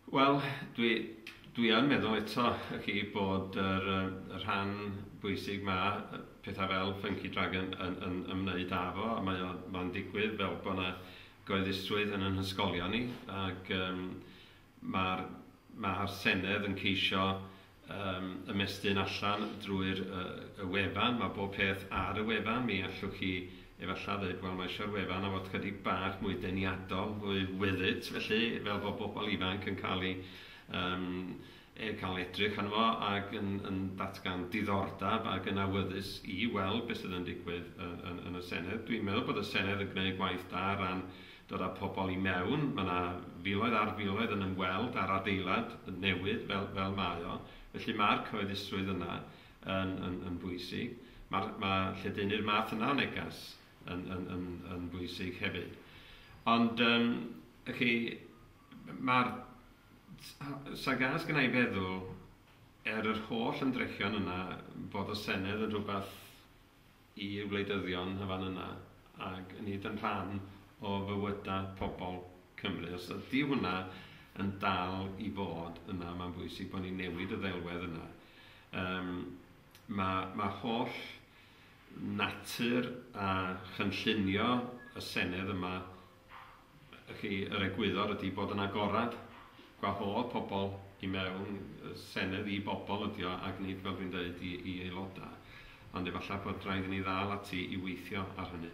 Wel, dwi, dwi yn meddwl eto y chi bod yr, y rhan bwysig ma, pethau fel Funky Dragon yn, yn ymwneud â fo, a mae o'n ma digwydd fel bod yna goeddusrwydd yn yn hysgolion ni, ac um, mae'r ma Senedd yn ceisio Yym, ymestyn allan drwy'r yy y wefan, mae bob peth ar y wefan, mi allwch chi efallai ddeud, wel mae eisiau'r wefan a fod chydig bach mwy deniadol, mwy with it, felly fel bod bobl ifanc yn cael ei yym e- cael edrych arno fo ac yn yn datgan diddordeb ac yn awyddus i weld beth sydd yn digwydd yn yn yn y Senedd. Dwi'n meddwl bod y Senedd yn gwneud gwaith da ar ran Dod â pobl i mewn, mae 'na filoedd ar filoedd yn ymweld â'r adeilad newydd fel fel mae o, felly ma'r cyhoeddusrwydd yna yn yn yn bwysig. Ma'r ma' lledaenu'r math yna o negas yn yn yn yn bwysig hefyd. Ond yym y' chi ma'r s- ho- sa gas gynna' i feddwl er yr holl ymdrechion yna fod y Senedd yn rhywbeth i wleidyddion y fan yna ac yn hyd yn rhan o fywyda pobl Cymru. Os ydy hwnna yn dal i fod yna, mae'n bwysig bod ni'n newid y ddelwedd yna. Um, mae, mae holl natur a chynllunio y Senedd yma Felly, yr egwyddor ydi bod yn agorad, gwahodd pobl i mewn, y Senedd i bobl ydi o ac nid, fel dwi'n deud, i i aelodau. Ond efallai bod raid i ni ddal ati i weithio ar hynny.